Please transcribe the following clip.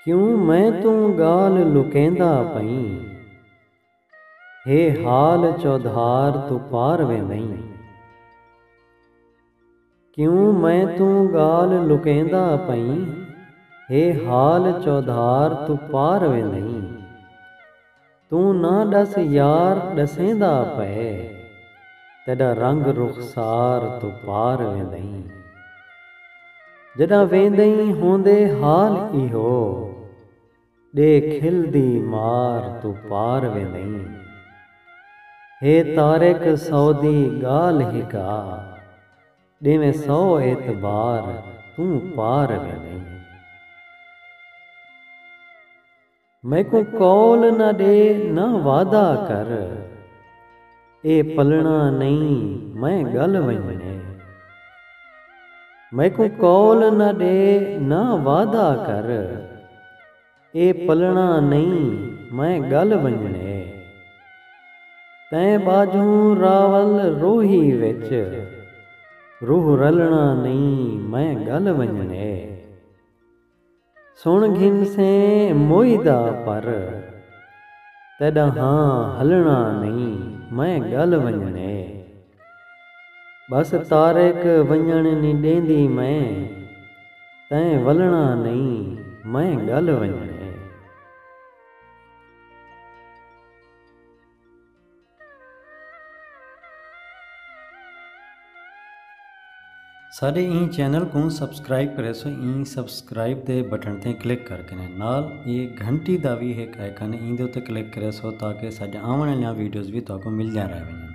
کیوں میں توں گالھ لکیندا پئیں۔ ہے حال چودھار توں پار وے نئیں۔ کیوں میں توں ڳالھ لکیندا پئیں۔ ہے حال چودھار توں پار وے نئیں۔ توں نہ ݙس یار ݙسیندا پئے۔ تیݙا رنگ رخسار توں پار وے نئیں۔ جݙاں ویندئیں ہوندے حال ایہو۔ ݙے کھل دی مار توں پار وے نئیں۔ ہے طارق سعودی ڳالھ ہک آ ݙیویں سو اعتبار توں پار وے نئیں۔ میکوں قول نہ ݙے نہ وعدہ کر۔ اے پلݨا نئیں میں ڳل ونڄݨے۔ میکوں قول نہ ݙے نہ وعدہ کر۔ اے پلݨا نئیں میں ڳل ونڄݨے۔ تیں ٻاجھوں راول روہی وچ۔ روح رلݨا نئیں میں ڳل ونڄݨے۔ سݨ گھنسیں موئی دا پر تیݙاہاں ہلݨا نئیں میں ڳل ونڄݨے ٻس طارق ونڄݨ نی ݙیندی میں تیں ولݨا نئیں میں ڳل ونڄݨے۔ ساڈے ایں چینل کوں سبسکرائب کریسو ایں سبسکرائب دے بٹن تے کلک کر کے نال اے گھنٹی دا وی ہک آئیکن ایندے تے کلک کریسو تاکہ ساڈے آون والیاں ویڈیوز وی تہاکوں ملدیاں رہ ونجن